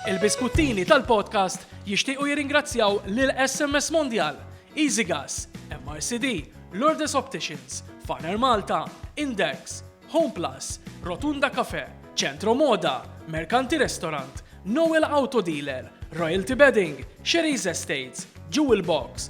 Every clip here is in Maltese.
Il-biskuttini tal-podcast jixtiequ jirringrazzjaw lil SMS Mondial, EasyGas, MRCD, Lourdes Opticians, Faner Malta, Index, Home Plus, Rotunda Cafe, Centro Moda, Mercanti Restaurant, Noel Auto Dealer, Royalty Bedding, Sherry's Estates, Jewel Box,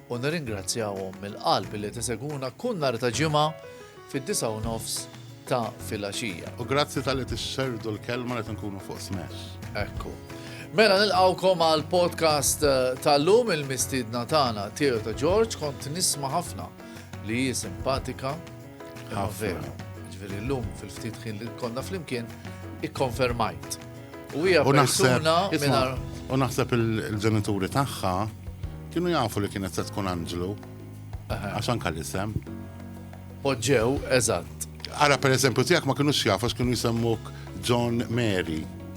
u nirringrazzjahom mill-qalb illi qed isegwuna kull nhar ta' Ġimgħa fid-disgħa u nofs ta' filgħaxija. U grazzi talli tixxerrdu l-kelma li qed inkunu fuq Smash. Ekku. Mela nilqgħukom għall-podcast eh, tal-lum il-mistiedna tagħna Theo ta' George kont nisma' ħafna li hi simpatika, Ħafna. Ġifieri llum fil-ftit ħin li konna flimkien ikkonfermajt. U hija persuna mingħajr. U naħseb il-ġenituri tagħha kienu jafu li kienet se tkun Anġlu. Għax anka l-isem. Poġġew, eżatt. Ara per eżempju tiegħek ma kienux jafu kienu jsemmuk John Mary.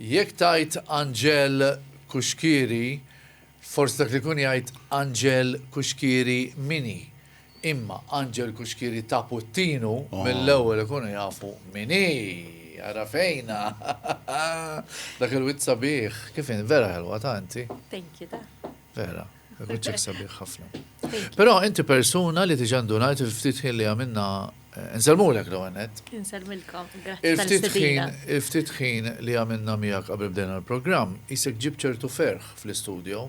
Jekk tgħid Anġel Cuschieri, forsi dak li jkun jgħid Anġel Cuschieri min hi. Imma Anġel Cuschieri ta' Puttinu mill-ewwel ikunu jafu min hi. Għarafejna. Dak il-wiċċ sabiħ. Kif in, vera ħelwa ta' inti. Thank you ta. Vera. Biċċek sabiħ ħafna. Però inti persuna li diġa ndunajt il-ftit ħin li għamilna eh, Nsalmulek l għanet. Nsalmilkom, Il-ftit ħin li għamilna miegħek qabel bdejna l-programm, jisek ġib ċertu ferħ fl-istudio.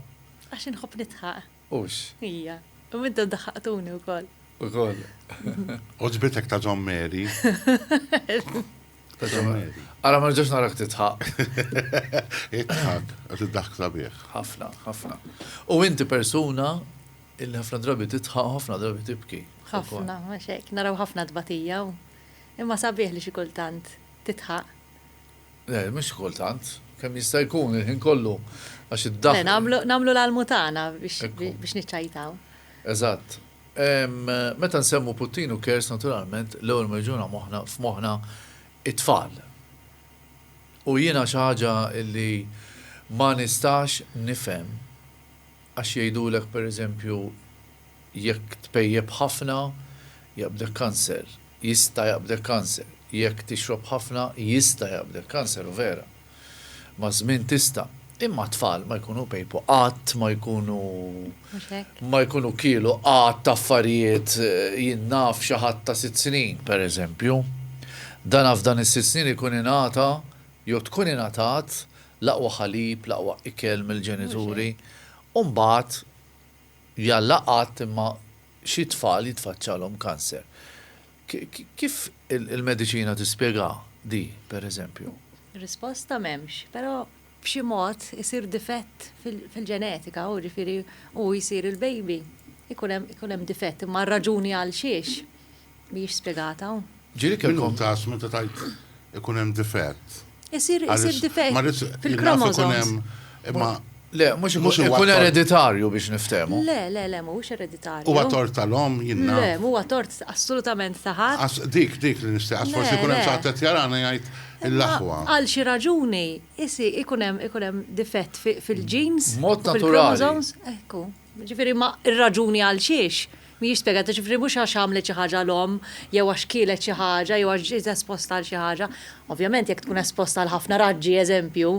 Għax inħobb nitħaq. Ux. Ija, u middu daħaqtuni u koll. U koll. Uġbitek ta' John Mary. Għara ma ġax narak titħaq. Itħaq, għat id-daħk sabiħ. ħafna, ħafna. U inti persuna illi ħafna drabi titħaq, ħafna drabi tibki. ħafna, maċek, naraw ħafna tbatija. Imma sabiħ li xikultant titħaq. Le, mux xikultant, kem jista' jkun il-ħin kollu, għax id-daħk. Namlu l-almutana biex niċċajtaw. Eżatt, Meta nsemmu Putin u Kers naturalment l-ewwel ma jiġuna moħħna f'moħħna t-tfal. U jiena xi ħaġa li ma nistax nifhem għax jgħidulek per eżempju jekk tpejjep ħafna jaqbdek kanser, jista' jaqbdek kanser, jekk tixrob ħafna jista' jaqbdek kanser u vera. Maż-żmien tista'. Imma t-tfal ma jkunu pejpu qatt ma jkunu ma jkunu kielu qatt affarijiet jien naf xi ħadd ta' sitt snin, pereżempju. Dana f'dan is-sitt snin ikun ingħata jew tkun ingħatat l-aqwa ħalib, l-aqwa ikel mill-ġenituri u mbagħad jalla qatt imma xi tfal jitfaċċalhom kanser. Kif il-mediċina tispjegha di, pereżempju? Risposta m'hemmx, però b'xi mod isir difett fil-ġenetika u ġifieri hu jsir il-baby ikun hemm ikun hemm difett imma r-raġuni għalxiex mhijiex spjegata. Ġieli kellkom. Min hu tas meta tgħid ikun hemm difett? Isir isir difett fil-kromosomes. Imma Le, mux ikun ereditarju biex niftemu. Le, le, le, mux ereditarju. Huwa tort tal-om, jinna. Le, huwa tort assolutament taħat. Dik, dik li nista, għax forsi kunem saħtet jarana jgħajt l-laħwa. Għal xi raġuni, isi ikunem difett fil-ġins. Mod naturali. Jiġifieri ma r-raġuni għalxiex mhijiex spjegata, jiġifieri mhux għax għamlet xi ħaġa l-omm jew għax kielet xi ħaġa jew għax ġiet esposta għal xi ħaġa. Ovvjament jekk tkun esposta għal ħafna raġġi, eżempju,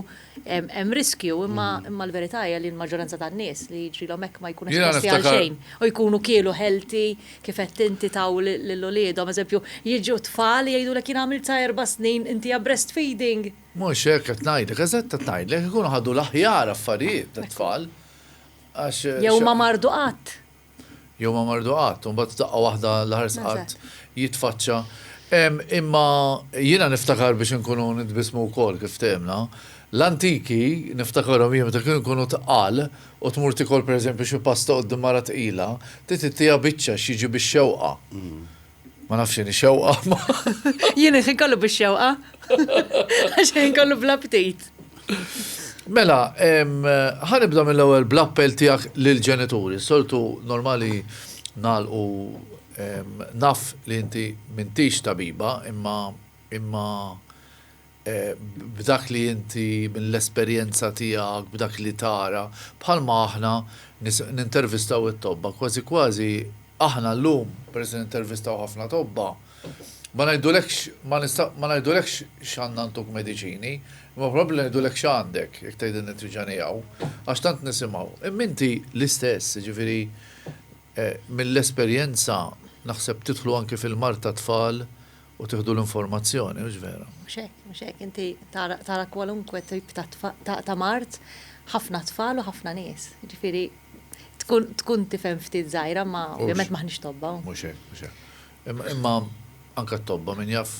hemm riskju imma imma l-verità hija li l-maġġoranza tan-nies li jiġrilhom hekk ma jkunu esposti għal xejn u jkunu kielu healthy kif għedt inti taw lil uliedhom. Eżempju, jiġu tfal jgħidulek jien għamilt sa erba' snin inti għad breastfeeding. Mhux hekk qed ngħidlek, eżatt qed ngħidlek, ikunu ħadu l-aħjar affarijiet tat-tfal Jew ma mardu qatt. Jew ma mardu qatt, u mbagħad daqqa waħda l-ħares qatt jitfaċċa. Imma jiena niftakar biex inkunu nitbismu wkoll kif ftehimna. L-antiki niftakarhom jien meta kienu jkunu tqal u tmur tikol pereżempju xi pasta quddiem mara tqila, trid ittieha biċċa x'jiġi bix-xewqa. Ma nafx jeni xewqa. Jeni xin kollu biex xewqa. Xin kollu bla ptit. Mela, ħanibda mill-ewwel bl-appell tiegħek lill-ġenituri. Soltu normali nalqu naf li inti mintix tabiba, imma imma b'dak li inti, mill-esperjenza tiegħek, b'dak li tara, bħalma aħna nintervistaw it-tobba, kważi kważi aħna llum, peress li nintervistaw ħafna tobba, ma ngħidulekx, ma ngħidulekx x'għandna ntuk mediċini, imma probabbli ngħidulek x'għandek, jekk tgħidilna tiġa hawn, għax tant nisimgħu. Imma inti l-istess, jiġifieri mill-esperjenza naħseb tidħlu anki fil-mard tat-tfal U tieħdu l-informazzjoni, mhux vera? Mhux hekk, mhux hekk. Inti tara kwalunkwe tip ta' mard, ħafna tfal u ħafna nies. Ġifieri tkun tifhem ftit żgħira ma ovvjament maħniex tobba. Mhux hekk, mhux hekk. Imma anke t-tobba min jaf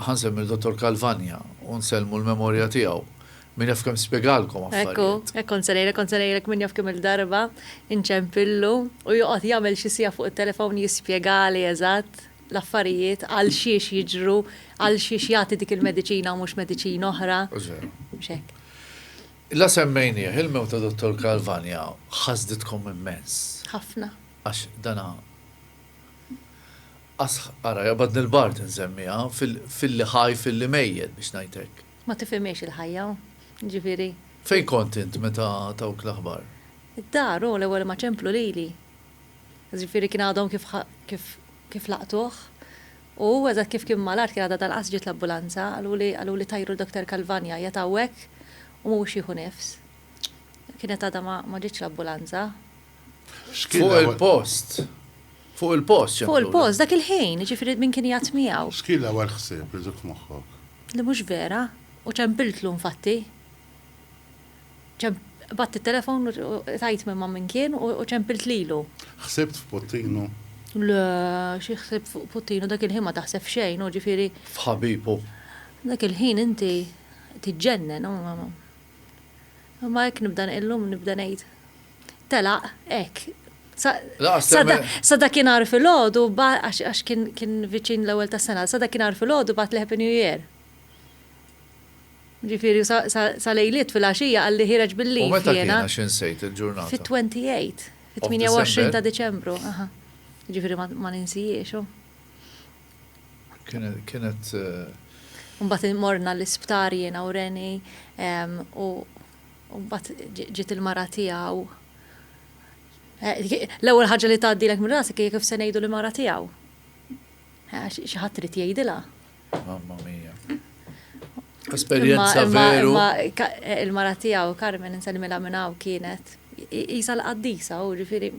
ħansemmi l-Dottor Calvagna u nsellmu l-memorja tiegħu. Min jaf kemm spjegalkom affarijiet. Ekku, hekk kont se ngħidlek, kont se ngħidlek min jaf kemm-il darba inċempillu u joqgħod jagħmel xi siegħa fuq it-telefown jispjegali eżatt l-affarijiet għalxiex jiġru, għalxiex jagħti dik il-mediċina u mhux mediċina oħra. Mhux veru. Mhux hekk. La semmejnieh, il-mewt ta' Dottor Calvagna ħasditkom immens. Ħafna. Għax dana ara jaqbadni l-bard insemmiha, filli ħaj filli mejjet biex ngħid hekk. Ma tifhimhiex il-ħajja, jiġifieri. Fejn kont int meta tawk l-aħbar? Id-dar hu l-ewwel ma ċemplu lili. Jiġifieri kien għadhom kif kif kif laqtuh. U hu eżatt kif kien mal-art kien għadha tal-qas ġiet l-ambulanza, qaluli qaluli tajru l-Doktor Calvagna qiegħed hawnhekk u mhuwiex jieħu nifs. Kienet għadha ma ma ġietx l-ambulanza. Fuq il-post. Fuq il-post. Fuq il-post, dak il-ħin, ġifiri minn kien jgħat miegħu. X'kien l-ewwel ħsieb li ġuk moħħok? Li mhux vera, u ċempiltlu nfatti. Batt it-telefon u tajt minn ma' minn kien u ċempilt lilu. Ħsibt f'Puttinu? Le, xi ħsib fuq Puttinu dak il-ħin ma taħseb xejn, u ġifiri. F'ħabibu. Dak il-ħin inti tiġġennen, u. Imma hekk nibda illum nibda ngħid telaq hekk. Sa dakinhar filgħodu għax kien viċin l-ewwel tas-sena, sa dakinhar filgħodu bagħat li Happy New Year. Ġifieri sa lejliet filgħaxija qalli ħireġ bil-leave jiena. U meta kien għax insejt il-ġurnata? Fit-28, fit-28 ta' Diċembru, aha. Ġifieri ma ninsihiex. Kienet. Mbagħad morna l-isptar jiena u Reni u mbagħad ġiet il-mara tiegħu. L-ewwel ħaġa li tgħaddilek minn rasek hija kif se ngħidu li mara tiegħu. Xi ħadd trid jgħidilha. Mamma mia. Esperjenza veru. Il-mara tiegħu Carmen inselmilha minn hawn kienet isa l-qaddisa u ġifieri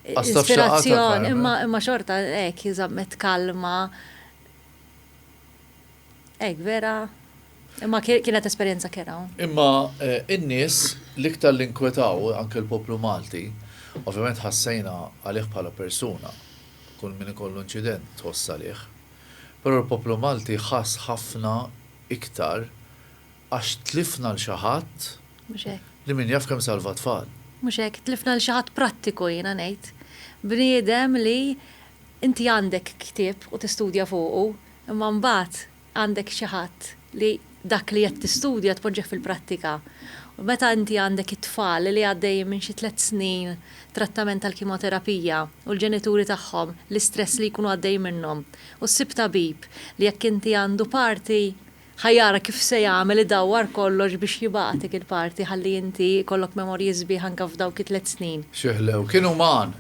Ispirazzjon, imma imma xorta hekk jiżammet kalma. Hekk vera. Imma kienet esperjenza kera. Imma eh, in-nies l-iktar li nkwetaw anke l-poplu Malti, ovvjament ħassejna għalih bħala persuna. Kull min ikollu inċident tħoss għalih. Però l-poplu Malti ħass ħafna iktar Għax tlifna 'l xi ħadd. Mhux hekk. Li min jaf kemm salva tfal. Mhux hekk, tlifna 'l xi ħadd prattiku jiena ngħid. Bniedem li inti għandek ktieb u tistudja fuqu, imma mbagħad għandek xi ħadd li dak li qed tistudja tpoġġih fil-prattika. U meta inti għandek it-tfal li għaddejjin minn xi tliet snin trattament tal-kimoterapija u l-ġenituri tagħhom l-istress li jkunu għaddejjin minnhom u ssib tabib li jekk inti għandu parti Ħa jara kif se jagħmel idawwar kollox biex jibagħatik il-party ħalli inti jkollok memorji sbieħ anke f'dawk it-tliet snin. Xi ħlew. Kien uman.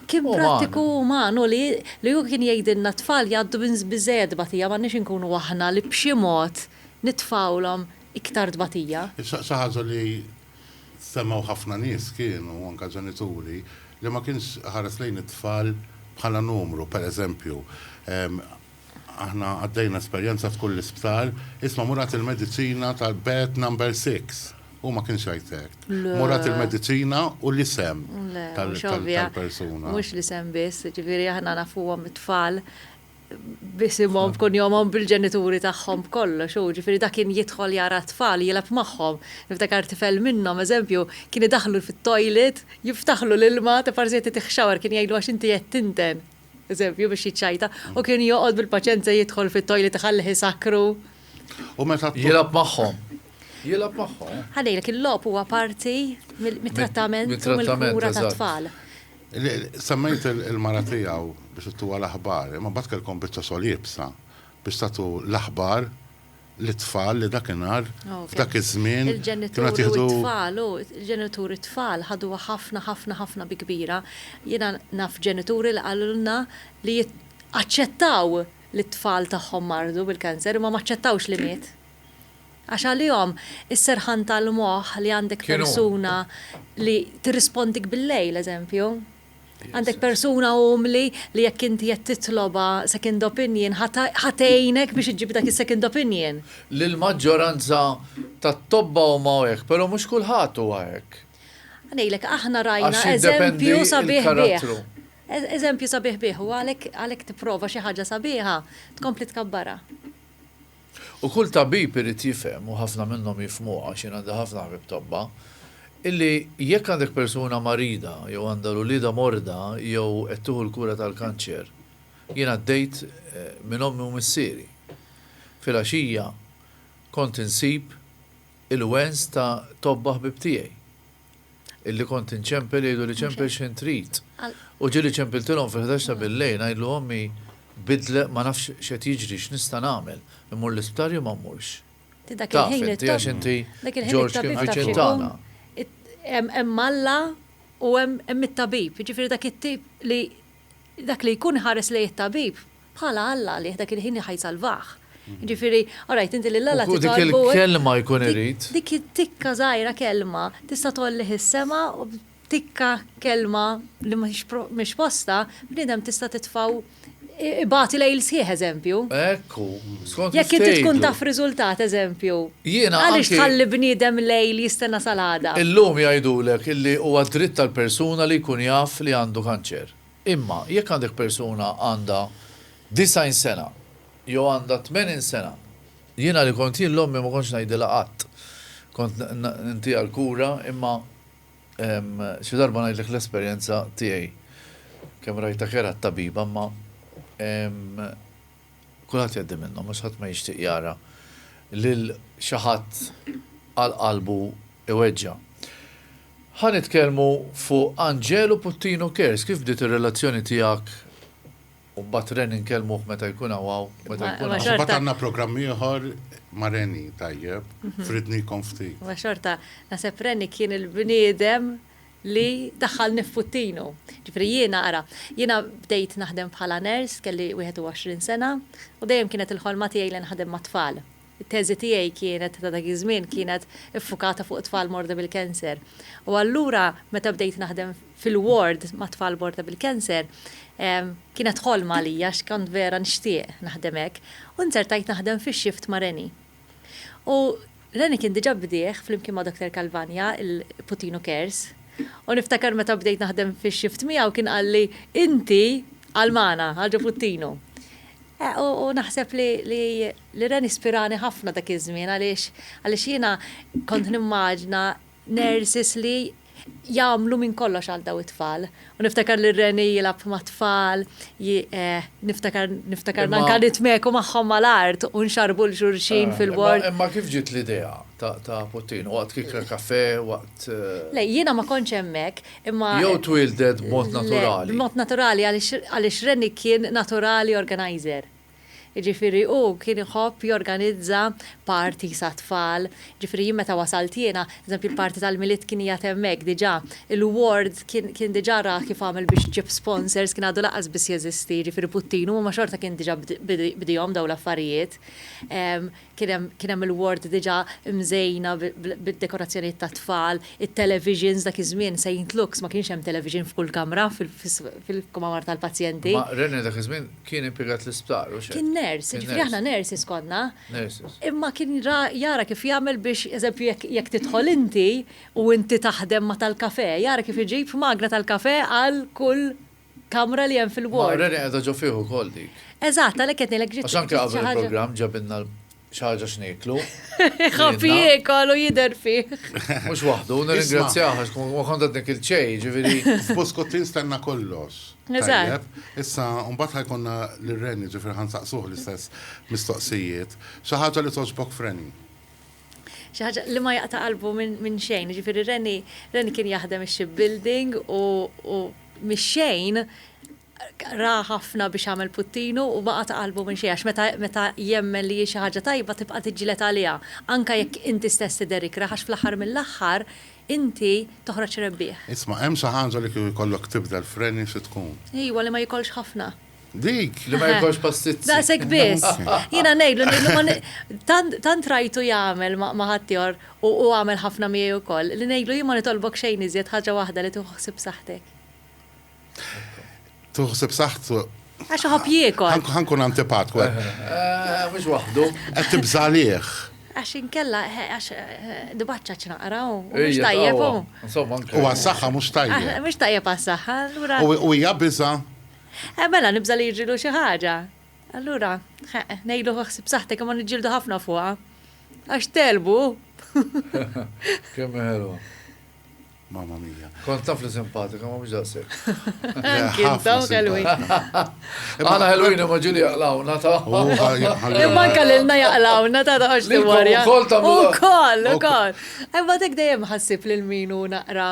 Kien prattiku u uman hu li li hu kien jgħidilna t-tfal jgħaddu minn biżżejjed tbatija m'għandniex inkunu aħna li b'xi mod nitfgħulhom iktar tbatija. Xi ħaġa li semgħu ħafna nies kienu, anke ġenituri, li ma kienx iħares lejn it-tfal bħala numru, pereżempju, Aħna għaddejna esperjenza f'kull l-isptar, isma' Murat il-mediċina tal-bed number six. Hu ma kienx jgħid hekk. Murat il-mediċina u l-isem tal-persuna. Mhux l-isem biss, ġifieri aħna nafuhom it-tfal b'isimhom, b'kunjomhom, bil-ġenituri tagħhom b'kollox hu, ġifieri dak kien jidħol jara t-tfal, jilgħab magħhom. Niftakar tifel minnhom, eżempju, kien idaħħlu fit-toilet, jiftaħlu l-ilma, ta' parsi qed titih shower, kien jgħidlu għax inti qed tinten. eżempju, biex jiċċajta, u kien joqgħod bil-paċenza jidħol fit-toilet iħallih isakkru. U meta t- Jilgħab magħhom. Jilgħab magħhom. Ħa ngħidlek, il-logħob huwa parti mill- mit-trattament u mit-trattament, mill-kura eżatt. tat-tfal. Le, Semmejt il- il-mara tiegħu biex ittuha l-aħbar, imma mbagħad kellkom biċċa xogħol iebsa biex tagħtu l-aħbar lit-tfal li dakinhar, f'dak iż-żmien, kienu qed jieħdu. Il-ġenituri u t-tfal, il-ġenituri u t-tfal ħaduha ħafna, ħafna, ħafna bi kbira. Jiena naf ġenituri li qalulna li aċċettaw li t-tfal tagħhom mardu bil-cancer imma ma aċċettawx li miet. Għax għalihom is-serħan tal-moħħ li għandek persuna li tirrispondik bil-lejl, eżempju, Għandek persuna umli li jekk inti qed titlobha second opinion ħa tgħinek biex iġġib dak is-second opinion. L-maġġoranza tat-tobba huma hekk, però mhux kulħadd huwa hekk. Ngħidlek, aħna rajna eżempju sabiħ bih. Eżempju sabiħ bih u għalhekk tipprova xi ħaġa sabiħa tkompli tkabbarha. U kull tabib irid jifhem, u ħafna minnhom jifhmuha għax jien għandi ħafna ħbieb tobba, illi jekk għandek persuna marida jew għandha l-uliedha morda jew qed tieħu l-kura tal-kanċer, jien għaddejt minn ommi u missieri. Filgħaxija kont insib il-wens ta' tobba ħbieb tiegħi. illi kont inċempel jgħiduli ċempel x'ħin trid. U ġieli ċempiltilhom fil-ħdax ta' billejl ngħidlu ommi bidlet ma nafx x'qed jiġri x'nista' nagħmel, immur l-isptar jew ma mmurx. Taf inti għax inti Ġorġ kien viċin tagħna. Hemm Alla u hemm it-tabib, jiġifieri dak it-tip li Dak li jkun iħares lejn it-tabib bħala Alla għalih dak il-ħin ħa jsalvah. Jiġifieri, alright, inti lil Alla titolbu. U dik il-kelma jkun irid. Dik it-tikka żgħira kelma tista' tgħollih is-sema u b'tikka kelma li mhix postha bniedem tista' titfgħu ibati lejl sħiħ eżempju. Hekk hu. Skont kif tgħidu. Jekk inti tkun taf riżultat eżempju. Jiena anki. Għaliex tħalli bniedem lejl jistenna sal-għada? Illum jgħidulek illi huwa dritt tal-persuna li jkun jaf li għandu kanċer. Imma jekk għandek persuna għandha 90 sena jew għandha 80 sena, jiena li kont jien l-ommi ma kontx ngħidilha qatt. Kont ntiha l-kura imma xi darba ngħidlek l-esperjenza tiegħi. Kemm rajtha kerha t-tabiba imma. Kulħadd jgħaddi minnhom għax ħadd ma jixtieq jara lil xi ħadd għal qalbu iweġġa'. Ħa nitkellmu fuq Anġelu Puttinu Cares, kif bdiet ir-relazzjoni tiegħek u mbagħad Reni nkellmuh meta jkun hawn hawn, meta jkun hawn. Xorta għandna programm ieħor ma' Reni tajjeb, fridni jkun ftit. Ma xorta, naħseb Reni kien il-bniedem li daħħalni f'puttinu. Ġifieri jiena, ara, jiena bdejt naħdem bħala nurse, kelli 21 sena, u dejjem kienet il-ħolma tiegħi li nħadem mat-tfal. It-teżi tiegħi kienet, ta' dak iż-żmien, kienet iffukata fuq it-tfal morda bil-cancer. U allura meta bdejt naħdem fil-ward ma' tfal morda bil-cancer, kienet ħolma għalija għax kont vera nixtieq naħdem hekk. U nzertajt naħdem fix-shift ma' Reni. U Lenny kien diġa bdieh flimkien ma' Doctor Calvagna il-Putinu Cares. U niftakar meta bdejt naħdem fix-shift miegħu kien qalli inti għal magħna, għal ġo Puttinu. U naħseb li Lenny spirani ħafna dak iż-żmien għaliex jiena kont nimmaġna nurses li jagħmlu minn kollox għal daw it-tfal. U niftakar li Reni jilab ma' tfal, eh, niftakar niftakar nanka nitmeku magħhom mal-art u nxarbu l-xurxin ah, fil-bord. Imma kif ġiet l-idea ta' Puttin? Waqt kikra kafe, waqt. Eh, Le, jiena ma konċ hemmhekk, imma. Jew twildet b'mod naturali. B'mod naturali għaliex Reni kien naturali organizer. Jiġifieri hu kien iħobb jorganizza parties għat-tfal. Jiġifieri jien meta wasalt jiena, eżempju l-party tal-Milied kien qiegħed hemmhekk diġà. Il-ward kien kien diġà ra kif għamel biex ġieb sponsors, kien għadu lanqas biss jeżisti, jiġifieri Puttinu, imma xorta kien diġà bdiehom dawn l-affarijiet. kien hemm kien hemm il-ward diġà mżejna bid-dekorazzjonijiet tat-tfal, it-televisions, dak iż-żmien Saint Luke's ma kienx hemm television f'kull kamra fil-kmamar tal-pazjenti. Ma René dak iż-żmien kien impjegat l-isptar, u x'hekk? Kien nurse, jiġifieri aħna nurses konna. Nurses. Imma kien ra jara kif jagħmel biex, eżempju, jekk jekk tidħol inti u inti taħdem ma' tal-kafè, jara kif iġib magra tal-kafè għal kull kamra li hemm fil-ward. Mara li qiegħda ġo fih ukoll dik. Eżatt, għalhekk qed ngħidlek ġiet xi ħaġa. Għax anke qabel il-programm ġabilna xi ħaġa x'nieklu. Ħafi jiekol u jidher fih. Mhux waħdu, nirringrazzjah għax kont qed nikil ċej, ġifieri. F'Buskut tinstenna kollox. Eżatt. Issa mbagħad ħajkonna lil Reni, ġifieri ħansaqsuh l-istess mistoqsijiet. Xi ħaġa li togħġbok f'Reni? xi ħaġa li ma jaqta' qalbu minn xejn. Jiġifieri Reni, Reni kien jaħdem ix-shipbuilding u mix-xejn ra ħafna biex għamel puttinu u ma qata' qalbu minn xejn għax meta jemmen li hi xi ħaġa tajba tibqa' tiġġieled għaliha anke jekk inti stess tidher ikrah għax fl-aħħar mill-aħħar inti toħroġ rebbieħ. Isma' hemm xi ħaġa li kieku jkollok tibdel f'Reni xi tkun? Ejwa li ma jikollx ħafna. Dik, li ma jkollx pastizzi. Daqshekk biss. Jiena ngħidlu, ngħidlu tant rajtu jagħmel ma' ħaddieħor u għamel ħafna miegħi wkoll, li ngħidlu jien ma nitolbok xejn iżjed ħaġa waħda li tieħu ħsieb saħħtek. Tieħu ħsieb saħħtu. Għax iħobb jiekol. Ħa nkun antipatku. Mhux waħdu. Qed tibża' għalih. Għax inkella għax dibaċċa ċnaqra u mhux tajjeb. U għas-saħħa mhux tajjeb. Mhux tajjeb għas-saħħa. U hija biża' Eh, mela, nibża' li jiġrilu xi ħaġa. Allura, eh, ngħidlu ħsib saħtek imma niġġieldu ħafna fuqha. Għax telbu. Kemm ħelwa. Mamma mia. Kont taf li simpatika, ma mhux daqshekk. Kintom kelwi. Għana ħelwin imma ġili jaqlawna ta' Imma kellilna jaqlawna ta' ta' għax li warja. Ukoll ta' Ukoll, ukoll. Imma dik dejjem ħassib lil min hu naqra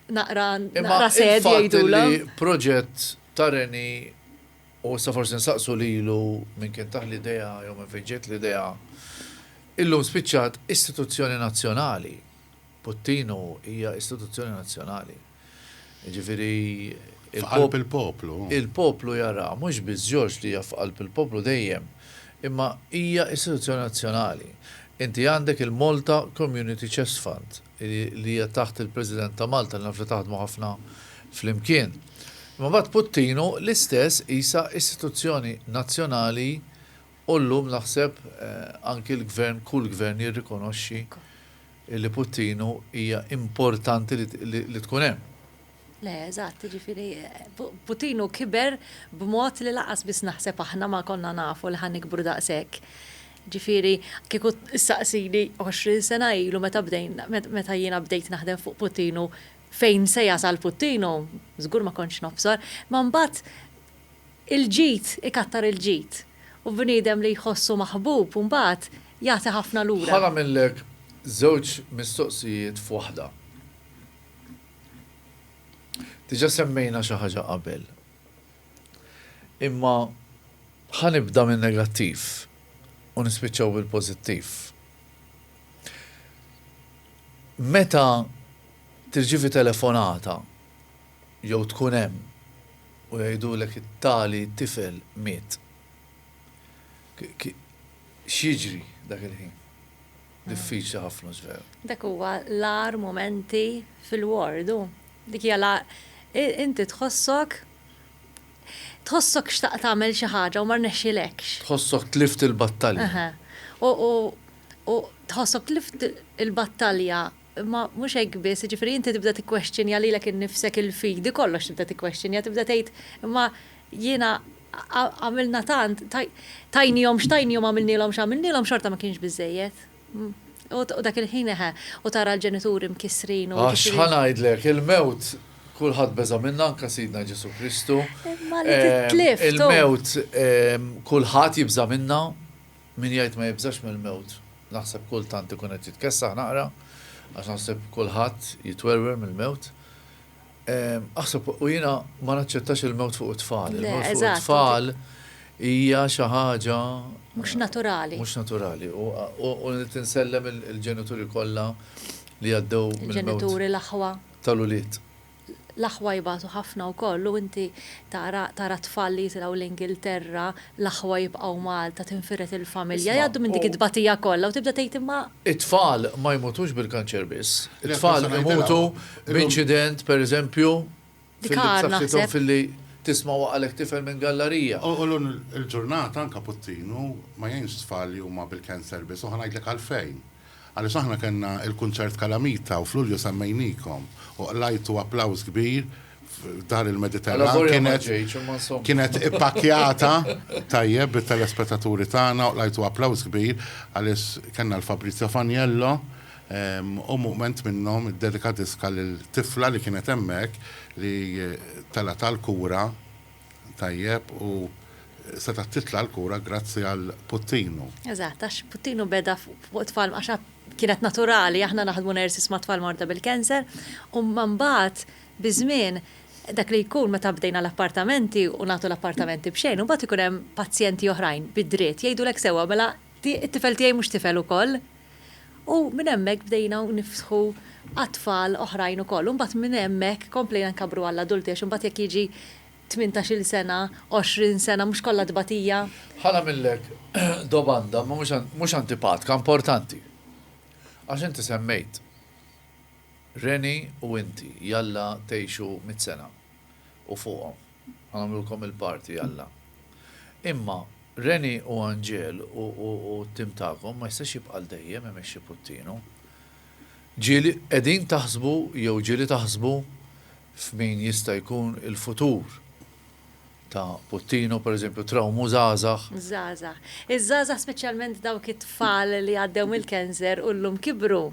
naqra naqra sad jgħidulha. Imma il-fatt li proġett ta' Reni u issa forsi nsaqsu lilu min kien tah l-idea jew minn fejn ġiet l-idea, illum spiċċat istituzzjoni nazzjonali. Puttinu hija istituzzjoni nazzjonali. Jiġifieri F'qalb il-poplu. Il-poplu jaraha, mhux biss George li hija f'qalb il-poplu dejjem, imma hija istituzzjoni nazzjonali. Inti għandek il-Malta Community Chest Fund, li hija taħt il-President ta' Malta, naf li taħdmu ħafna flimkien. Imma mbagħad Puttinu l-istess qisha istituzzjoni nazzjonali u llum naħseb anki l-Gvern, kull Gvern jirrikonoxxi li Puttinu hija importanti li tkun hemm. Le, eżatt, jiġifieri Putin hu kiber b'mod li lanqas biss naħseb aħna ma konna nafu li ħa nikbru daqshekk. Ġifieri kieku ssaqsini għoxrin sena ilu meta bdejna, meta jiena bdejt naħdem fuq Putin u fejn se jasal Putin u żgur ma kontx nobsor. Imma mbagħad il-ġid ikattar il-ġid u bniedem li jħossu maħbub mbagħad jagħti ħafna lura. Ħa nagħmillek żewġ mistoqsijiet f'waħda. Diġà semmejna xi ħaġa qabel. Imma ħa nibda min-negattiv u nispiċċaw bil-pożittiv. Meta tirċievi telefonata jew tkun hemm u jgħidulek it-tali tifel miet, x'jiġri dak il-ħin? Diffiċli ħafna ġvera. Dak huwa l-agħar mumenti fil-ward u dik hija la inti tħossok tħossok xtaqt tagħmel xi ħaġa u ma rnexxilekx. Tħossok tlift il-battalja. U tħossok tlift il-battalja imma mhux hekk biss, jiġifieri inti tibda tikkwestjonja lilek innifsek il-fidi kollox tibda tikkwestjonja tibda tgħid imma jiena Għamilna tant, tajniehom x'tajniehom għamilnielhom x'għamilnielhom xorta ma kienx biżżejjed. U dak il-ħin eħe, u tara l-ġenituri mkissrin u. Għax ħa ngħidlek, il-mewt kulħadd beża' minnha anke Sidna Ġesù Kristu. Imma li titlift. Il-mewt kulħadd jibża' minnha, min jgħid ma jibżax mill-mewt naħseb kultant ikun qed jitkessaħ naqra għax naħseb kulħadd jitwerwer mill-mewt. Aħseb, u jiena ma naċċettax il-mewt fuq it-tfal. Il-mewt fuq it-tfal hija xi ħaġa. Mhux naturali. Mhux naturali. U tinsellem il-ġenituri kollha li għaddew mill-mewt. Il-ġenituri, l-aħwa. Tal-ulied. L-aħwa jibatu ħafna wkoll u inti tara tfal li jitilgħu l-Ingilterra, l-aħwa jibqgħu Malta, tinfired il-familja, jgħaddu minn dik it-tbatija kollha u tibda tgħid imma. It-tfal ma jmutux bil-kanċer biss. It-tfal imutu. B'inċident, per eżempju, fil-bsaffitom fil-li tisma waqalek tifel minn gallarija. U l-lum il-ġurnata anka puttinu ma jgħinx tfal li huma bil-cancer biss u ħa ngħidlek għalfejn. Għaliex aħna kellna il-kunċert f'Kalamita u f'Lulju semmejnikom u qlajtu applawż kbir f'Dar il-Mediterran kienet ippakkjata tajjeb bit-telespetaturi tagħna u qlajtu applawż kbir għaliex kellna l-Fabrizio Faniello u mument minnhom iddedika diska lil tifla li kienet hemmhekk li telgħet għall-kura tajjeb u setgħet titla' l-kura grazzi għal Puttinu. Eżatt, għax Puttinu beda fuq tfal għax kienet naturali, aħna naħdmu nurses ma' tfal morda bil-cancer, u imma mbagħad biż-żmien dak li jkun meta bdejna l-appartamenti u nagħtu l-appartamenti b'xejn, imbagħad ikun hemm pazjenti oħrajn bid-dritt jgħidulek sewwa mela It-tifel tiegħi mhux tifel ukoll? U minn hemmhekk bdejna nifsħu għat-tfal oħrajn ukoll. U mbagħad minn hemmhekk komplejna nkabbru għall-adulti għax imbagħad jekk jiġi tmintax-il sena, għoxrin sena mhux kollha tbatija. Ħa nagħmillek domanda mhux antipatka, importanti. Għax inti semmejt Reni u inti jalla tgħixu mitt sena u fuqhom. Għamlulkom il-party Alla. Imma Reni u Anġel u t-tim tagħkom ma jistax jibqa' għal dejjem imexxi Puttinu. Ġieli qegħdin taħsbu jew ġieli taħsbu f'min jista' jkun il-futur ta' Puttinu, pereżempju trawmu żgħażagħ? Żgħażagħ. Iż-żgħażagħ speċjalment dawk it-tfal li għaddew mill-cancer u llum kibru.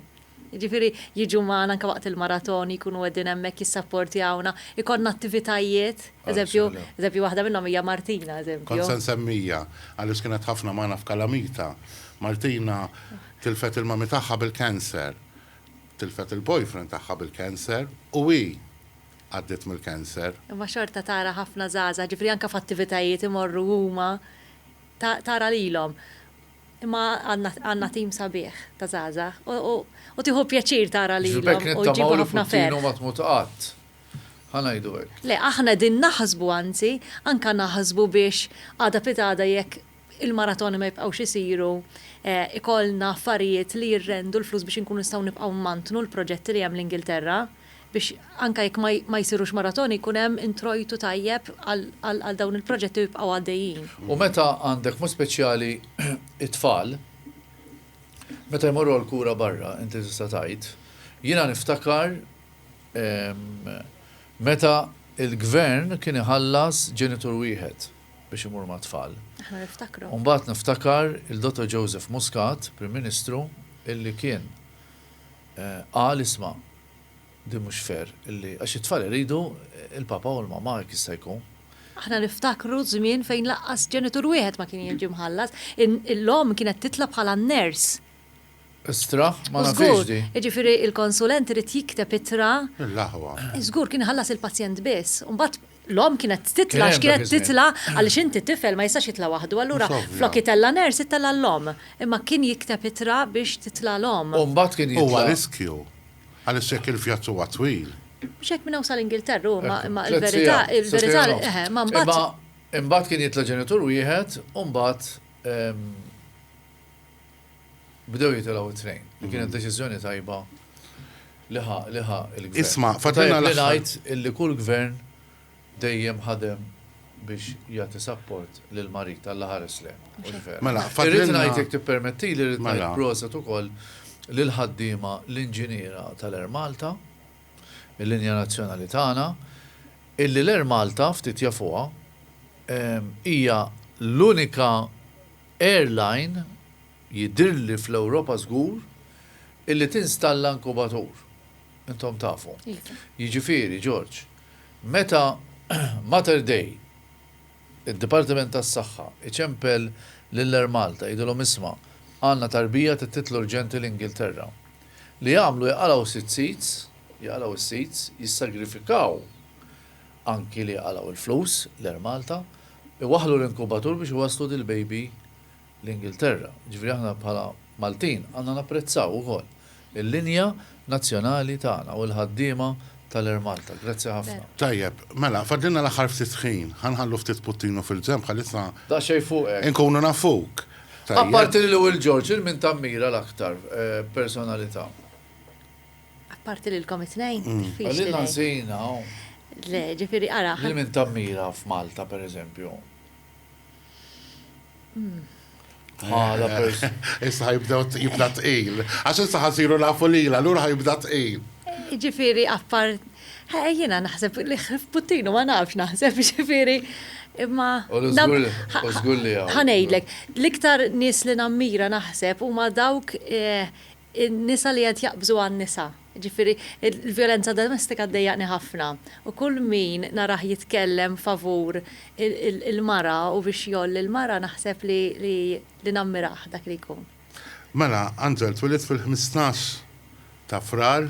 Jiġifieri jiġu magħna anke waqt il-maratoni, jkunu qegħdin hemmhekk jissapportjawna, ikollna attivitajiet, eżempju, eżempju waħda minnhom hija Martina, eżempju. Kont se nsemmija, Alice kienet ħafna magħna f'kalamita. Martina tilfet il-mummy tagħha bil-cancer, tilfet il-boyfriend tagħha bil-cancer u hi għaddiet mill-cancer. Imma xorta tara ħafna żgħażagħ, jiġifieri anke f'attivitajiet imorru huma, tara lilhom. Imma għandna tim sabiħ ta' żgħażagħ u tieħu pjaċir tara lilhom u jġibu ħafna ferħ. Ġifieri bekk nittamaw li Putin ma tmut qatt. Ħa ngħidu hekk. Le, aħna qegħdin naħsbu anzi, anke naħsbu biex għada pitgħada jekk il-maratoni ma jibqgħux isiru, ikollna affarijiet li jirrendu l-flus biex inkunu nistgħu nibqgħu mmantnu l-proġetti li hemm l-Ingilterra. biex anke jekk ma jsirux maratoni jkun hemm introjtu tajjeb għal dawn il-proġetti u jibqgħu għaddejjin. U meta għandek b'mod speċjali t-tfal, meta jmorru għall-kura barra, inti tista' tgħid, jiena niftakar meta l-gvern kien iħallas ġenitur wieħed biex imur mat-tfal. Aħna niftakru. U mbagħad niftakar il-Dottor Joseph Muscat, Prim Ministru, illi kien Qal, Isma', din mhux fair, illi, għax it-tfal iridu l-papa u l-mamma jekk jista' jkun. Aħna niftakru żmien fejn lanqas ġenitur wieħed ma kien jiġi mħallas. L-omm kienet titla' bħala n-nurse. Istrah, ma nafhiex din. Żgur, jiġifieri l-konsulent irid jikteb ittra. Lill-aħwa. Żgur, kien iħallas il-pazjent biss. U mbagħad L-omm kienet titla' għax kienet titla' għaliex inti tifel ma jistax jitla' waħdu allura flok itella' nurse ittella' l-omm. Imma kien jikteb ittra biex titla' l-omm. U mbagħad kien jitla'. Huwa riskju għaliex jekk il-vjaġġ huwa twil. Mhux hekk minn hawn sa l-Ingilterra hu imma imma il-verità il-verità eħe imma mbagħad. Imma imbagħad kien jitla' ġenitur wieħed u mbagħad bdew jitilgħu t-trejn. Li kienet mm. deċiżjoni tajba li ħa li ħa il-gvern. Isma, fatina li ngħid illi kull gvern dejjem ħadem biex jagħti sapport lil marit tal ħares le. Mela, fatina. Irrid ngħid jekk tippermetti li rrid ngħid proset ukoll lil ħaddiema l-inġiniera tal-Air Malta, il-linja nazzjonali tagħna, illi l-Air Malta ftit jafuha hija l-unika Airline jidhirli fl-Ewropa żgur illi tinstalla inkubatur. Intom tafu. Jiġifieri, George, meta Mater Dei, id-Dipartiment tas-Saħħa, iċempel lil Air Malta jgħidilhom isma' għandna tarbija trid titla' urġenti l-Ingilterra. Li jagħmlu jaqalgħu sitt seats, jaqalgħu s-seats, jissagrifikaw anki li jqalgħu l-flus, l-Air Malta, iwaħħlu l-inkubatur biex iwasslu dil-baby l-Ingilterra. Jiġifieri aħna bħala Maltin għandna napprezzaw ukoll il-linja nazzjonali tagħna u l-ħaddiema tal-Air Malta. Grazzi ħafna. Tajjeb, mela, fadlilna l-aħħar ftit ħin. Ħa nħallu ftit puttinu fil-ġenb bħalissa. Daqsxejn fuqek. Inkunu nafuk. Apparti lil Will George, lil min tammira l-aktar, personalità? Apparti lilkom it-tnejn? Għalina żejna. Le, ġifieri ara. Lil min tammira f'Malta, pereżempju? Hmm. Bħala person. Issa ħajbdew jibda tqil. Għax issa ħasiru nafu lila, lura ħajbda tqil. Ġifieri appart. Jiena naħseb li puttinu ma nafx naħseb ġifieri. Imma. U żgur li Ħanejdlek, l-iktar nies li nammira naħseb huma dawk eh, in-nisa li qed jaqbżu għan-nisa. Jiġifieri l-vjolenza domestika ddejjaqni ħafna u kull min narah jitkellem favur il-mara u biex jgħolli l-mara naħseb li nammirah dak li jkun. Mela, Angel twieled fil-ħmistax ta' Frar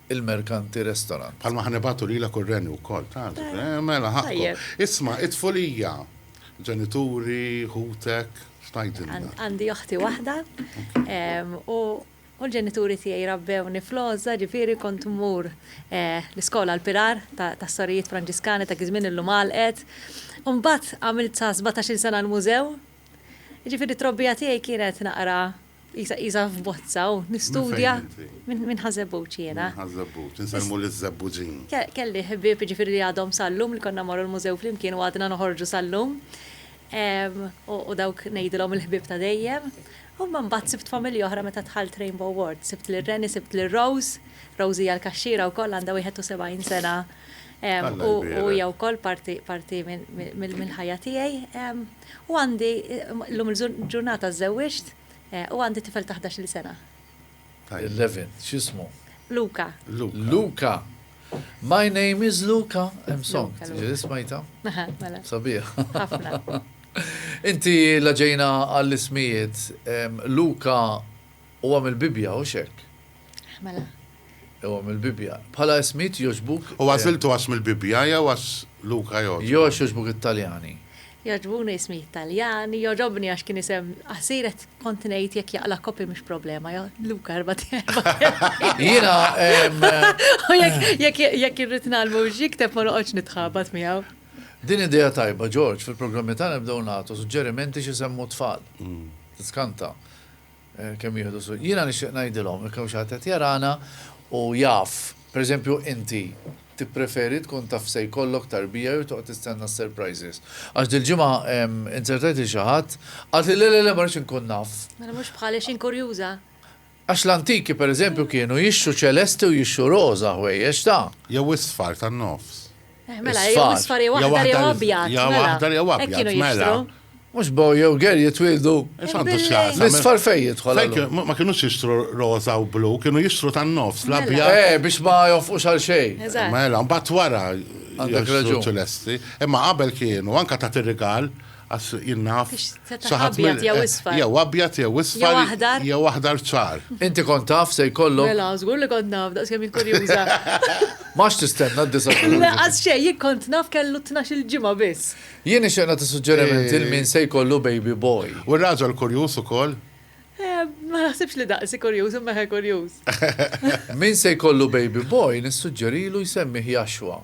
il-merkanti restorant. Bħalma ħa nibagħtu lilek u r-Renju wkoll, taf, mela ħaqqhom. Isma', it-tfulija, ġenituri, ħutek, x'tgħidilna? Għandi oħti waħda u l-ġenituri tiegħi rabbewni fl-għożża, ġifieri kont mmur l-iskola l-Pirar tas-Sorijiet Franġiskani ta' dik iż-żmien illum għalqet. U mbagħad għamilt sa sbatax-il sena l-Mużew. Jiġifieri t-trobbija tiegħi kienet naqra Isa qisha f'bozza u nistudja minn ħażebbuġ jiena. Ħażebbuġ, insellmu liż-żebbuġin. Kelli ħbieb jiġifieri li għadhom sal-lum li konna mmorru l-mużew flimkien u għadna noħorġu sal-lum. U dawk ngħidilhom il-ħbieb ta' dejjem. U imma mbagħad sibt familja oħra meta dħalt Rainbow Ward. Sibt lil Renny, sibt lil Rose. Rose hija l-kaxxiera wkoll għandha 71 sena u hija wkoll parti mill-ħajja tiegħi. U għandi, llum il-ġurnata żżewwiġt u għandi tifel ta' ħdax-il sena. Eleven, x'ismu? Luca. Luca! My name is Luca, hemm song, ġieli smajtha? Mela. Sabiħa. Ħafna. Inti la ġejna għall-ismijiet, Luca huwa mill-Bibbja, hux hekk? Mela. Jew għax mill-Bibbja. Bħala ismijiet jogħġbuk? U għażiltu għax mill-Bibbja jew għax Luka jogħġbu? Jew għax jogħġbuk it-Taljani? Jogħġbuni ismijiet Taljani, jogħġobni għax kien isem qasir qed kont ngħid jekk jaqla' copy mhux problema, jew Luka erba' erba' kelmiet. Jiena U jekk jekk jekk irrid ngħallmu biex jikteb ma noqgħodx nitħabat miegħu. Din idea tajba, George, fil-programmi tagħna nibdew nagħtu suġġerimenti x'isemmu t-tfal. Tiskanta. Kemm jieħdu s-suq. Jiena nixtieq ngħidilhom, jekk hawn xi ħadd qed jarana u jaf, per eżempju inti, tippreferi tkun taf se jkollok tarbija jew toqgħod tistenna s-surprises? Għax dil-ġimgħa intervtajt lil xi ħadd, qalt li le le le ma rridx inkun naf. Mela mhux bħali xejn kurjuża. Għax l-antiki per eżempju kienu jixtru ċelesti u jixtru roża ħwejjeġ ta'. Jew isfar tan-nofs. Eh, mela, jew Isfar, isfar jew jew aħdar jew aħdar- abjad. jew mela. aħdar jew Hekk abjad, kienu mela. jixtru. Mux boy jew ger jitwildu. Santu Billi. xlasa. L-isfar fej jidħol. Fejn allura? kienu- ma- Ma kienu jistru roza u blu, kienu jistru tan-nofs, Mela. l-abjad. Eh, biex ma jofqux għal xejn. Eżatt. Mela, mbagħad wara Għandek jixtru raġun. ċelesti. Imma qabel kienu, anka ta' tirrigal, Għax jien naf. Setax abjad jew isfar. Jew abjad jew isfar. Jew aħdar. Jew aħdar ċar. Inti kont taf se jkollok. Mela, żgur li kont naf, daqskemm jien kurjuża. M'għadx tistenna d-disa' ta' Lulju. Lanqas xejn, jien kont naf kellu tnax-il ġimgħa biss. Jien nixtieq nagħti suġġeriment lil min se jkollu baby boy. U r-raġel kurjuż ukoll? Ma naħsibx li daqsi kurjuż imma eħe kurjuż. Min se jkollu baby boy nissuġġerilu jsemmieh Jashwa.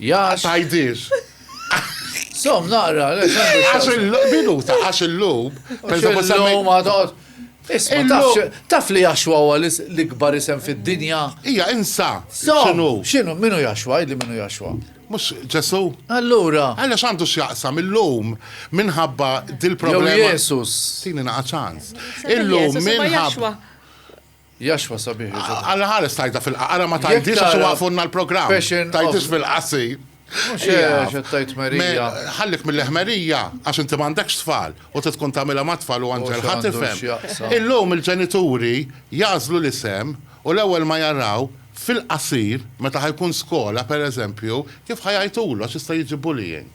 Jax. Tajdix. Som naqra, le, xandu. Għax il-minuta, għax il-lum. Pensavo semmej. ma toqgħod. Isma, taf, taf li jaxwa huwa l-ikbar isem fid-dinja. Ija, insa. Xinu? Xinu, minu jaxwa, li minu jaxwa. Mux ġesu? Allura. Għalla xandu xjaqsam il-lum minħabba dil-problema. Jesu. Tini naqa ċans. Il-lum minħabba. Jaxwa sabiħ li ġa. Alla ħares tgħidha fil-qa. Ara ma tgħidhiex għax iwaqfunna l-programm. Fashion. Tgħidhiex fil-qasir. Mhux hekk qed tgħid ħmerija. Ħallik mill-ħmerija għax inti m'għandekx tfal u trid tkun tagħmilha mat-tfal u anġel ħa tifhem. Illum il-ġenituri jagħżlu l-isem u l-ewwel ma jaraw fil-qasir meta ħa jkun skola pereżempju kif ħa jgħajtulu għax jista' jiġi bullying.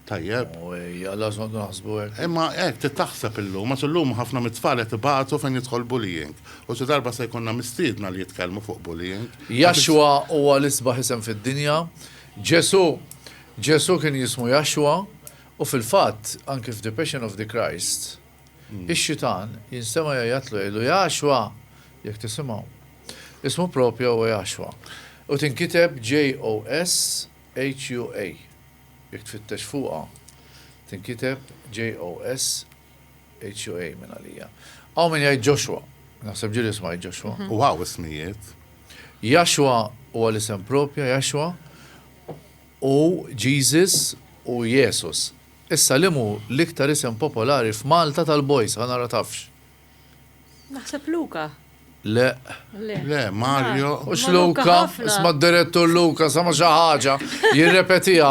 Tajjeb. U ejja, lażma nkunu naħsbu hekk. Imma hekk trid taħseb illum, għax illum ħafna mit-tfal qed ibatu fejn jidħol bullying. U xi darba se jkollna mistiedna li jitkellmu fuq bullying. Jashwa huwa l-isbaħ isem fid-dinja. Ġesù Ġesù kien jismu Jashwa, u fil-fatt, anki f'The Passion of the Christ, ix-xitan jinstema' jgħajjatlu jgħidlu, Jashwa! Jekk tisimgħu. Ismu proprja huwa Jashwa. U tinkiteb JOSHUA. Jekk tfittex fuqha, tinkiteb JOSHUA minn għalija. Hawn min jgħid Joshua. Naħseb ġieli isma' hi Joshua. U hawn ismijiet. Yahshua huwa l-isem propja, Yahshua, u Jesus u Iesus. Issa liemhu l-iktar isem popolari f'Malta tal-boys, ħa nara tafx. Naħseb Luka. Le. Le, Mario. Ux Luka, isma d-direttur Luka, sama xi ħaġa, jirrepetiha.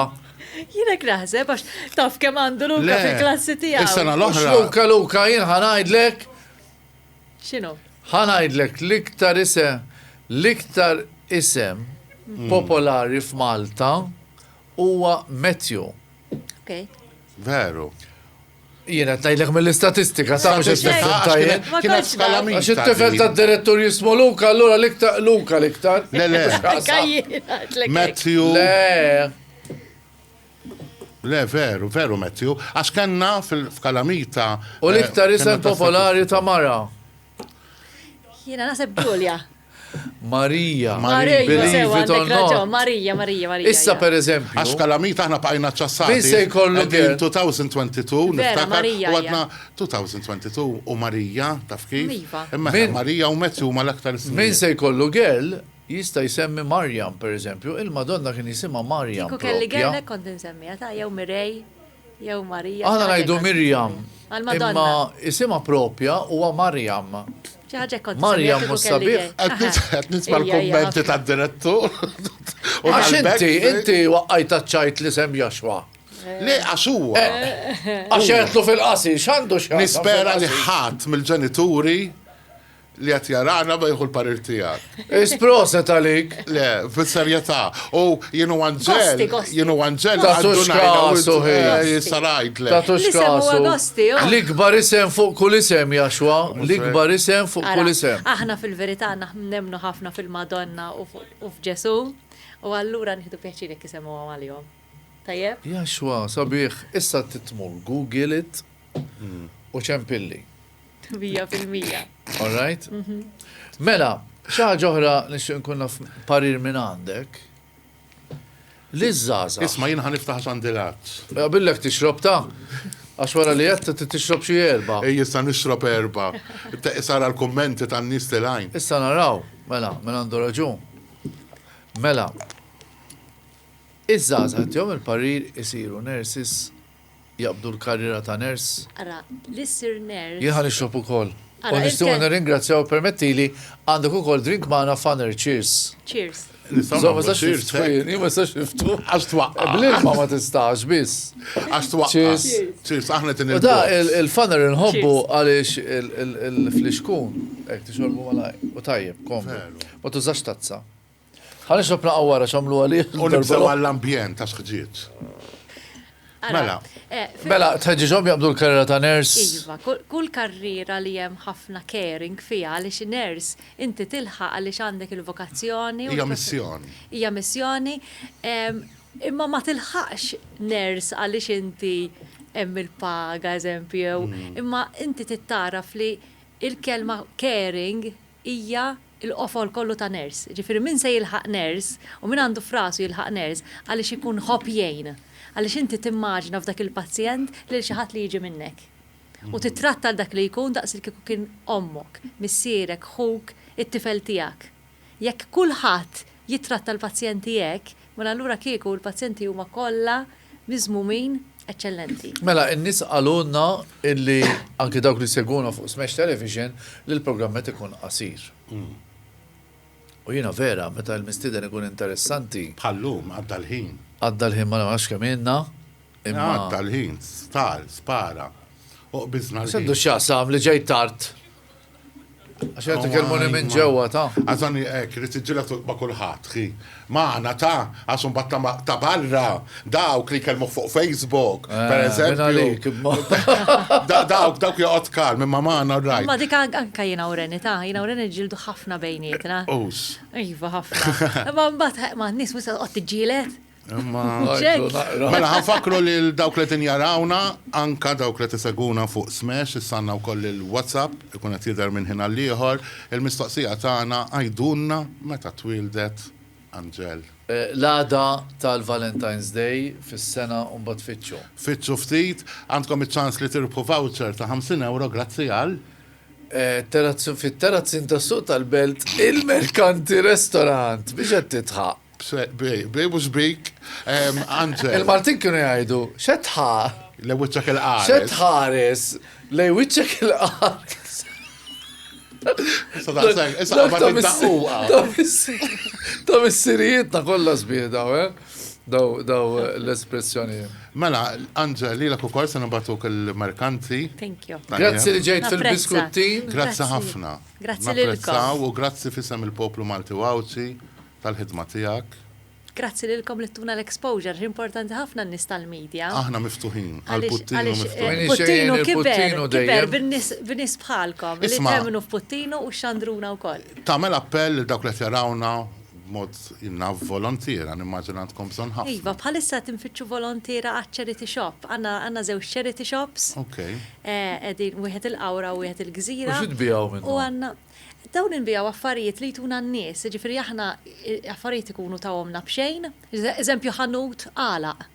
Jinek naħseb, għax taf kem għandu Luka fil-klassi tiegħu. Is-sena l-oħra. Luka, Luka, jien ħanajdlek. X'inhu? Ħanajdlek l-iktar isem, l-iktar isem mm. popolari f'Malta huwa Matthew. Okay. Veru. Jien qed ngħidlek mill-istatistika sa mhux qed nifhem tajjeb. Kienet skala minn. Għax it-tifel tad-direttur jismu Luka, allura l-iktar Luka l-iktar. Le le. Matthew. Le. Le, veru, veru Matthew. Għax kellna fil-kalamita. U l-iktar eh, isem popolari ta' mara. Jiena naħseb Ġulja. Marija. Marija, Marija, Marija, Marija. Issa per eżempju. Għax kalamita aħna bqajna ċassati. Min se jkollu kien 2022, niftakar, u għadna 2022 u Marija, taf kif? Iva. Imma Marija u Matthew ma l-aktar Min se jkollu girl jista' jsemmi Marjam, per eżempju, il-Madonna kien jisimha Marjam. Kieku kelli girl kont insemmiha ta' jew Mirej. Jew Marija. Aħna ngħidu Mirjam. Imma isimha propja huwa Marjam. Marjam mhux sabiħ. Qed nisma' l-kummenti tad-direttur. U għax inti, inti waqqajt ċajt li sem Joshua. Le, għax huwa. Għax jgħetlu fil-qasi, x'għandu x'għandu. Nispera li ħadd mill-ġenituri li qed jarana ma jieħu l-parir tiegħek. Is proset għalik. Le, fis-serjetà. U jien u Anġel, jien u Anġel Ta' għaddu tux ngħidu, kasu, eh, hej. jista' ngħidlek. Ta' tux L-isem huwa kasu. Gosti, oh. L-ikbar isem fuq kull isem, Jaxwa. L-ikbar isem fuq Ara, kull isem. Aħna fil-verità naħ- nemmnu ħafna fil-Madonna u fu- u f'Ġesù, u allura nieħdu pjaċir jekk isemmuhom għalihom. Tajjeb? Jaxwa, sabiħ, issa trid tmur Google it u ċempilli. Mija fil-mija. All right? Mhm. Mela, xaħġa ġoħra nixtieq nkun naf parir minn għandek. Li żgħażagħ. Isma' jien ħan niftaħ sandilat. Eh, billek tixrob ta' għax wara li qed t tixrob xie erba'. Ej jissa nixrob erba'. Sara l-kummenti tan-nies li lajn. Issa naraw, mela, minn għandu raġun. Mela, iż-żgħażagħ jom il-parir isiru nersis jaqbdu l-karriera ta' nurse. Ara, li ssir nurse. Jien ħa nixrob ukoll. U nixtiequ nirringrazzjaw u permettili, għandek ukoll drink magħna f'Honor, cheers. Cheers. Nistgħu nagħmlu cheers hekk? Jien ma nistax niftu. Għax twaqqaf. Bl-ilma ma tistax biss. Għax twaqqaf. Cheers. Cheers, aħna qed inilbsu. U dan il-f'Honor inħobbu għaliex il-flixkun hekk tixorbu malajr u tajjeb, komdu. Ma tużax tazza. Ħa nisab naqgħu wara x'għamlu għalih. U nibżgħu għall-ambjent ta' sħġieġ. Mela. Eh, mela, tħeġġiġhom jaqbdu l-karriera ta' ners. Iva, kull karriera li hemm ħafna caring fiha għaliex ners inti tilħaq għaliex għandek il-vokazzjoni. Hija missjoni. Hija missjoni. Imma ma tilħaqx ners għaliex inti hemm il-paga, eżempju, mm. imma inti tittaraf li il-kelma caring hija l-qofol kollu ta' ners. Jiġifieri min se jilħaq ners, u min għandu f'rasu jilħaq ners, għaliex ikun jħobb jgħin. Għaliex inti timmaġina f'dak il-pazjent lil xi ħadd li jiġi minnek. U tittratta lil dak li jkun daqs li kieku kien ommok, missierek, ħuk, it-tifel tiegħek. Jekk kulħadd jittratta l-pazjenti hekk, Mela allura kieku l-pazjenti huma kollha miżmumin eċċellenti. Mela n-nies qalulna illi anke dawk li jsegwuna fuq Smash Television li l-programm qed ikun qasir. U jiena vera meta l-mistieden ikun interessanti. Bħal-lum għadda l-ħin. Għadda l-ħin ma nafx kemm ilna imma. Għadda l-ħin, star, spara. U qbiżna l-ħin. X'għandu x'jaqsam li ġejt tard? Għax jgħatik il-moni minn ġewwa ta'. Għazan ek, li tiġġilet ma' kulħadd, xi. Magħna ta' għax imbagħad ta' barra dawk li jkellmu fuq Facebook, eh, per eżempju. Dawk dawk joqgħod kal minn ma' magħna rajt. Ma dik anka jiena ureni ta' jiena ureni ġildu ħafna bejnietna. Us. Iva ħafna. Ma mbagħad ma' nies mhux qed tiġġielet. Mela ħanfakru li dawk li tinjarawna, anka dawk li tiseguna fuq Smash, issanna wkoll il-WhatsApp, ikun qed jidher minn ħin għal ieħor, il-mistoqsija tagħna għidulna meta twieldet Anġel. L-għada tal-Valentine's Day fis-sena u mbagħad fittxu. Fittxu ftit, għandkom iċ-ċans li tirbħu voucher ta' 50 ewro grazzi għal. Fit-Terrazzin tas-Suq tal-Belt, il-Merkanti Restaurant. Biex qed tidħaq? Bej mhux bik, Anġel. Il-Maltin kienu jgħidu, x'qed tħa. Lejn wiċċek il-qares. X'qed tħares lejn wiċċek il-qares. Sa daqshekk, issa qabad id-daqquqa. Ta' missirijietna kollha sbieda, daw l-espressjonijiet. Mela, Anġel, lilek ukoll se nibgħatuk il-merkanti. Thank you. Grazzi li ġejt fil-biskuttin. Grazzi ħafna. Grazzi lilkom. Napprezzaw u grazzi f'isem il-poplu Malti u Għawdxi tal-ħidma tiegħek. Grazzi lilkom li ttuna l-exposure li importanti ħafna n-nies tal-media. Aħna miftuħin għal Puttinu miftuħin. Puttinu kiber, kiber bin-nies bħalkom li temmnu f'Puttinu u xxandruna wkoll. Tagħmel appell lil dawk li qed jarawna b'mod naf volontiera, nimmaġina għandkom bżonn ħafna. Iva, bħalissa qed infittxu volontiera għaċ-charity shop. Għandna żewġ charity shops. Qegħdin wieħed il-Qawra u wieħed il-Gżira. U xi tbiegħu minnhom? Dawn inbiegħu affarijiet li jtuna n-nies, jiġifieri aħna affarijiet ikunu tawhomna b'xejn, eżempju ħanut għalaq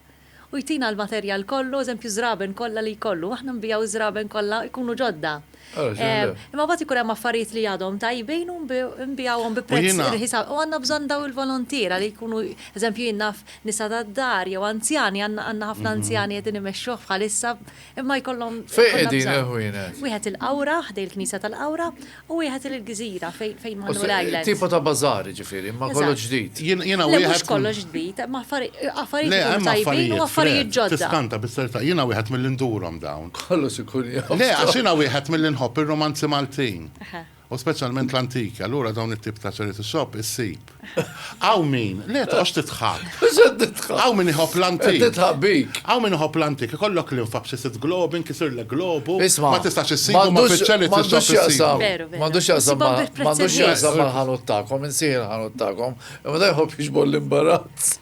u jtina l-materjal kollu, eżempju żraben kollha li jkollu, aħna nbiegħu ż-żraben kollha jkunu ġodda. Imma mbagħad ikun hemm affarijiet li għadhom tajbin u nbiegħuhom bi prezz irħis u għandna bżonn dawn il-volontiera li jkunu, eżempju jien naf nisa tad-dar jew anzjani, għandna ħafna anzjani qegħdin imexxuh bħalissa Imma jkollhom. Fejn qegħdin il-ħwienet? Wieħed il-Qawra, ħdej il-Knisja tal-Qawra, u wieħed il-Gżira fejn Manuel Island. Tipo ta' bazaar ġifieri, ma kollox ġdid. Jiena wieħed. Mhux kollox ġdid, ma affarijiet tajbin u affarijiet ġodda. Tiskanta bis-serta, jiena wieħed mill-indurhom dawn. Kollox ikun jgħid. Le, għax jiena wieħed mill-inħobb ir-romanzi Maltin. U speċjalment l-antiki, allura dawn it-tip ta' charity shop issib. Hawn min, le toqgħodx tidħak. Mhux qed nidħak. Hawn min iħobb l-antik. Qed nidħaq bik. Hawn min iħobb l-antik, ikollok linfa b'xi sitt globi, nkisirlek globu, Isma'. ma tistax issibu imma fiċ-charity shop M'għandux issibu. x'jaqsam. Veru, veru. M'għandux x'jaqsam Isibhom ma' bi ħprezz m'għandux irħis. x'jaqsam mal-ħanut tagħkom, insejħi l-ħanut tagħkom. Imma da jħobb jiġbor l-imbarazz.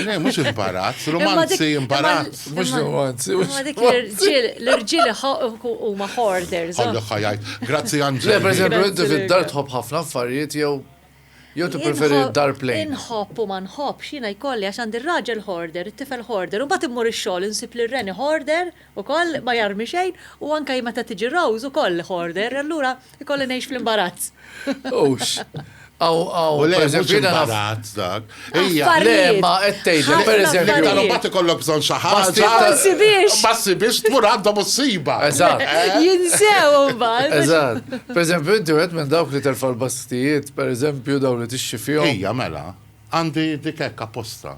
Le, mhux imbarazz, romanzi, imbarazz. Mhux romanzi, mhux. Ma dik l-irġiel, l-irġiel huma hoarders. Għallu ħajajt. Grazzi Anġel. Le, per eżempju, inti fid-dar tħobb ħafna affarijiet jew Jew ti preferi dar plejn. Inħobb u ma nħobbx, jiena jkolli għax għandi raġel hoarder, it-tifel hoarder, u bat immur ix-xogħol insib li reni hoarder. Ukoll ma jarmi xejn u anke meta tiġi Rose ukoll hoarder, allura jkolli ngħix fl-imbarazz. Hux. Hawn hawn. U le mhux pereżempju jiena naf. imbarazz dak. Hija. Le Affarijiet. imma qed tgħidlek Ħafna pereżempju L-iktar affarijiet. imbagħad ikollok bżonn xi ħaġa. Pastijiet Ma ta' nsibiex. Ma ssibiex tmur għandhom u ssibha. Eżatt. Jinsew imbagħad. biex- Eżatt. Pereżempju inti wieħed minn dawk li terfa' l-bastijiet, pereżempju dawn li tixxi fihom. Hija mela. Għandi dik hekk apposta.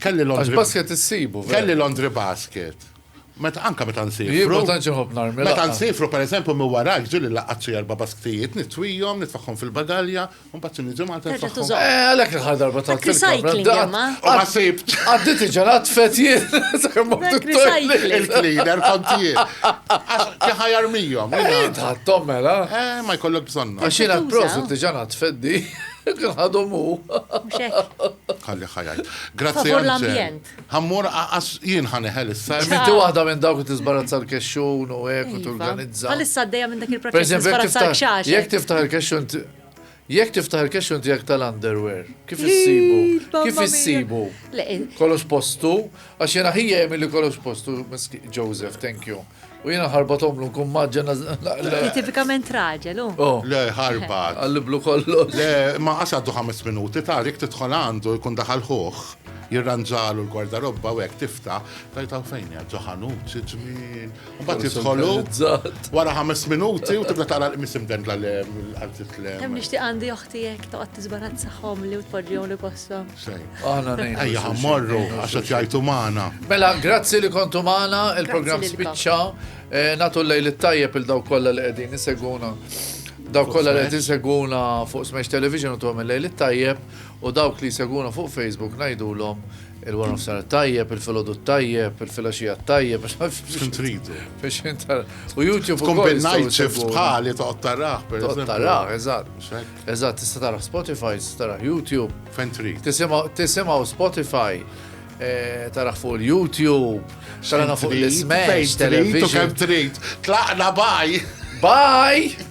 Kelli Londri. Għax basket issibu. Kelli Londri basket. Meta anka meta nsifru. Jien ma tantx iħobb narmi. Meta nsifru pereżempju minn warak ġieli laqgħat xi erba' basktijiet, nitwihom, nitfaħħom fil-bagalja, u mbagħad xi niġi Malta nfaħħom. Eh, għalhekk il-ħar darba ta' recycling imma. Ma sibt. Għaddit iġalat fetjiet. Il-cleaner kont jien. Għax ħajar mijhom. Tħattom mela. Eh, ma jkollok bżonn. Għax jiena prosit iġalat feddi. Għadhom hu. Ħalli ħa jgħid. Grazzi. Favur l-ambjent. Ħammur għas jien ħaneħel issa. Minti waħda minn dawk li tiżbarazza l-kexxun u hekk u iva. torganizza. Għalissa għaddejja minn dak il-proċess tiżbarazza l-kxax. Jekk tiftaħ il-kexxun Jekk tiftaħ il-kexxun tiegħek tal-underwear, kif issibu? Kif issibu? Kollox postu, għax jena ħija jemilli kollox postu, Joseph, thank you. U jiena ħarbatomlu nkun maġġa naqla. Tipikament raġel, u. Oh. Le, ħarbat. Għalliblu kollu. Le, ma għax għaddu ħames minuti, Tarik tidħol għandu jkun daħal ħuħ, jirranġalu l-gwardarobba u hekk tifta, tajta fejn hija ġoħanut, xi ġmien. Mbagħad jidħolu wara ħames minuti u tibda tara l-qmis imdendla le għal titlem. Hemm nixtieq għandi oħti hekk toqgħod tiżbarazzaħhom li tpoġġihom li posthom. Aħna ngħidu. Ejja ħammorru assoċjajtu magħna. Mela, grazzi li kontu magħna, il-programm spiċċa. Eh, natu l-lejl it-tajjeb il daw kollha li qegħdin iseguna. Daw kollha li qed iseguna fuq Smash Television u tuhom il-lejl it-tajjeb u dawk li jseguna fuq Facebook ngħidulhom il-war of sar tajjeb, il-filodu tajjeb, il-filaxija tajjeb, xim tridu. U YouTube u kombinajt ċift bħali toqtaraħ, per eżempju. Toqtaraħ, eżatt. Eżatt, tista' taraħ Spotify, tista' taraħ YouTube. Fejn trid. Tisimgħu Spotify, eh, taraħ fuq il-YouTube, taraħ fuq l-Smash, television. Kemm trid. Tlaqna baj. Baj!